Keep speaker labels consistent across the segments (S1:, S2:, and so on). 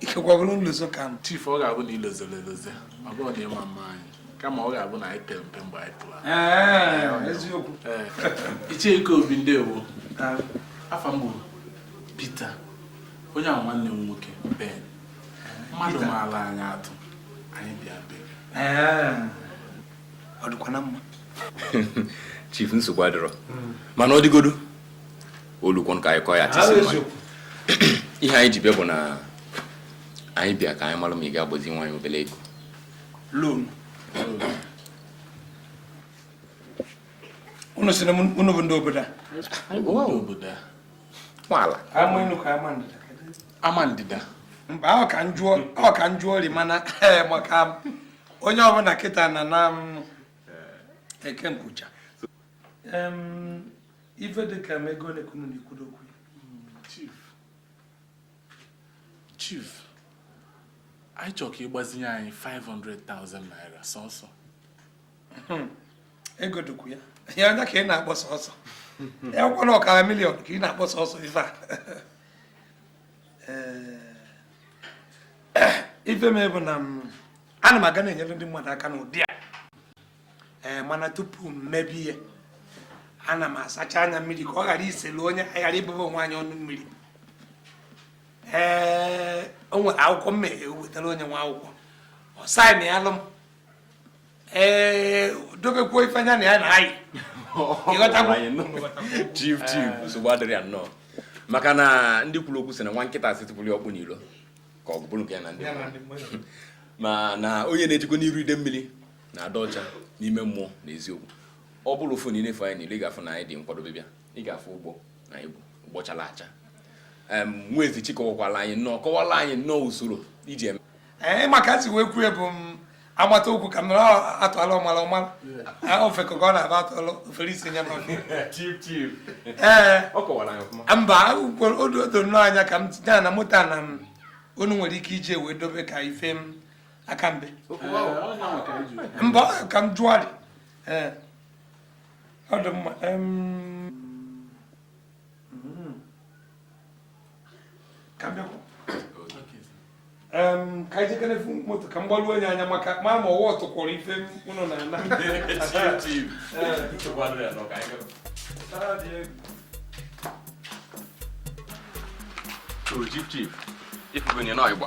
S1: ikekwa bụrụ nlozo ka m chief ọ ga-abụ na i
S2: lozoro elozo ọ bụrọ na ịma mma anyị kama ọ ga-abụ na anyị pere mpe mgbe anyị pụrụ ahụ. eziokwu Ee.
S1: Ichie
S2: Ikeobi ndewo afa m bụ Peter onye a bụ nwanne m nwoke Ben mmadụ maara anyị atụ anyị bịa be gị.
S1: ọ dịkwa na
S3: mma chief nsogbu adịrọ mana ọ dịgodu olukwo ka anyị kọọ ya tisi ihe anyị ji bịa bụ na anyị bịa ka anyị mara ma ị ga-agbazinwu anyị obere ego loan
S1: unu sị na unu bụ ndị
S2: obodo a nwaala
S1: ama ndịda
S2: mba ọ ka
S1: m jụọ ọ ka m jụọ ri mana eh, maka onye ọbụla kịta na na-eke nkwụcha ife dị ka ego ole ka unu na-ekwudo okwu chief
S2: chief anyị chọrọ ka ị gbazinye anyị 500,000 naira
S1: sọsọ hmm. ego dị ukwu a ya anya ka ị na-akpọ sọsọ ya kwụkwọ na ọkara miliọn ka ị na-akpọ sọsọ ife a ife mere bụ na ana m aga na-enyere ndị mmadụ aka n'ụdị a ee mana tupu m mebe ihe ana m asacha anya mmiri ka ọ ghara iselu onye ghara ịbụba onwe anyị ọnụ mmiri ee o nwere akwụkwọ m na-ewetara onye nwa akwụkwọ ọ saịnịalụ m ee dobekwuo ife anya na ya na
S3: anyị chief chief nsogbu adịrị ya nnọọ maka na ndị kwuru okwu sị na nwa nkịta sị tụpụrụ ọkpụ n'ilo ka ọ bụrụ nke ya na ndị maa na onye na-ejikwa n'iru ide mmiri na-ada ọcha n'ime mmụọ na eziokwu ọ bụrụ ofu na i nefe anyị niile ị ga-afụ na anyị dị nkwadobe bịa ị ga-afụ ụgbọ na anyị bụ ụgbọ chara acha nwa ezichi kọwakwala anyị nnọọ kọwala anyị nnọọ usoro i ji eme ee maka si wee
S1: kwue bụ m agbata okwu ka mere a tụala ọmala ọ mala ofeke ka ọ na-abụ a tụala o fere isi nye
S3: ee mba o
S1: do nnọọ anya ka m tinye na moto na m unu nwere ike iji wee dobe ka ife aka mbe mba ka m jụọdị ọ dị mma ka m bịakwa Em, ka anyị jekene fụ moto ka m gbaruo ya anya maka ma ma ọwa ọtụkwọrọ ife unu na-ana
S3: Chief, chief, ị fụgonụ ya n'ọyịgba.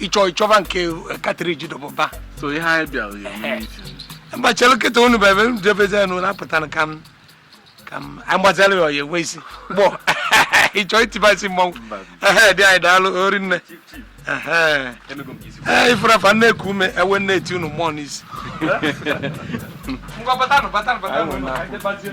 S1: ịchọ ịchọba nke katriji dọbụba so ihe anyị bịara
S2: ya eme meeting.
S1: mgbachara nkịta unu bụ ebe jebezi unu na-apụta na ka m ka m anyị gbazara ya ọ ya-enwe isi gbọ ịchọ itiba isi mmọnwụ ehe di anyị daalụ o rinne ehe ee ị fụrụ afa na-eku ume e wee na-eti unu mmụọ n'isi ngwa batanụ batanụ batanụ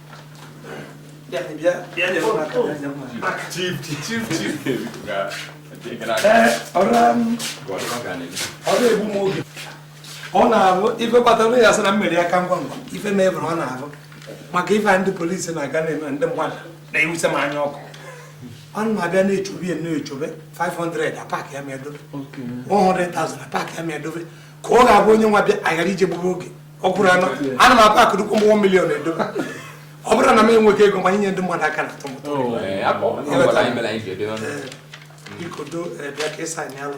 S1: ọ na-abụ ife kpatara ya sị na mmeri aka ngwa ngwa ife mebere ọ na-abụ maka ife ndị polisi na-aga na-eme ndị mmadụ na-enwuse m anya ọkụ ọ na-abịa na-echobe ya na-echobe 500 a pack ya ma edobe 100,000 a pack ya ma edobe ka ọ ga-abụ onye nwa bịa aghara ije gburu oge ọ kwụrụ anọ ana m akpa akụrụkwu mgbe one million edobe ọ bụrụ na m enweghị ego ma inye ndị mmadụ aka na atọ mụta oh, eh, eh, biko do eh, bịa ka ịsa anyị alụ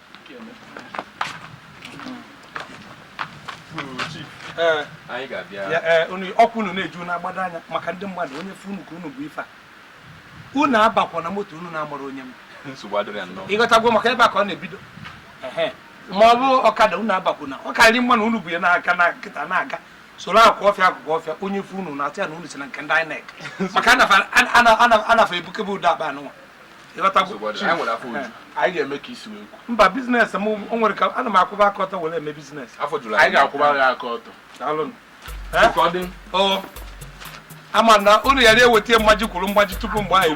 S3: ọkwa unu na-eji
S1: na-agbado anya maka ndị mmadụ onye fụ unu ka unu bu ife a unu abakwana moto unu na-amara onye m
S3: ị ghọtagwo maka ebe a ka ọ
S1: na-ebido ma ọ bụ ọkada unu abakwuna ọ karịrị mma na unu bu ya n'aka na nkịtị na-aga soro akwa ọfịa akụkụ ọfịa onye fụ unu na-atụ ya na unu si na nke ndị INEC maka na fa ebukebe ụdị akpa anụnwa
S2: anyị ga-eme ka i si wee mba business m
S1: o nwere ka ana m akwụba aka ọtọ were eme business
S3: anyị ga-akwụba
S2: gị aka ọtọ
S1: mana unu ya na-eweta mmaji kwuru mgbaji tupu mgbe anyị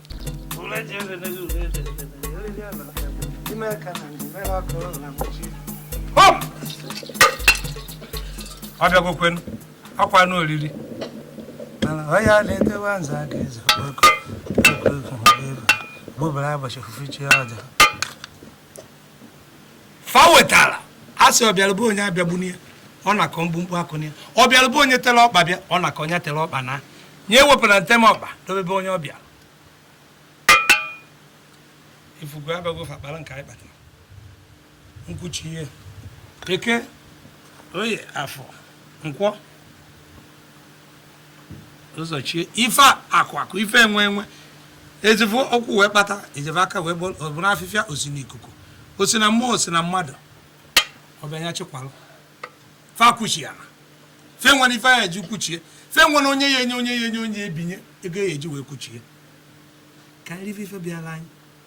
S1: ọ bịagokwenụ akwa anụ oriri ọ ya na-etewa nza aka eze okpoko okpoko bụbara ụbọchị ofufe chi ọja fa wetara a sị ọbịara be onye abịagbuna ya ọ nakọ mkpumkpu akụna ya ọbịara be onye tere ọkpa bịa ọ nakọ ya tere ọkpa naa ya ewepụna ntem ọkpa dobe be onye ọ bịara ị fụgo abịago fa kpara nke anyị kpatara nkwuchi ihe eke oye afọ nkwọ ụzọ chie ife akụ akụ ife enwe enwe ezivu ụkwụ wee kpata ezivu aka wee bụrụ afịfịa o si n'ikuku o si na mmụọ o si na mmadụ ọ bịa nya chịkwalụ fa kwuchi ya na fa enwere ife ya eji kwuchie fa enwere onye ya enye onye ya enye onye ebinye ego ya eji wee kwuchie karị ife bịara anyị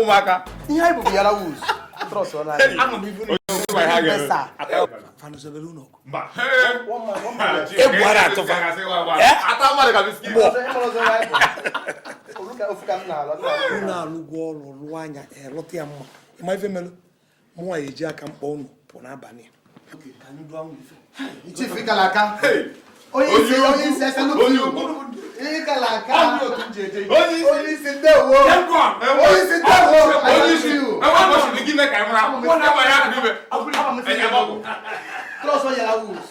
S4: ụmụaka
S3: ihe anyị bụbu yara
S4: wuz
S1: trọs ọ na-adị egwu ara atụfa unu alụgwo ọrụ lụọ nya lụta ya mma ị ma ife melụ mụ nwa ya-eji aka m kpọ unu pụ n'abalị Trust
S4: all your rules.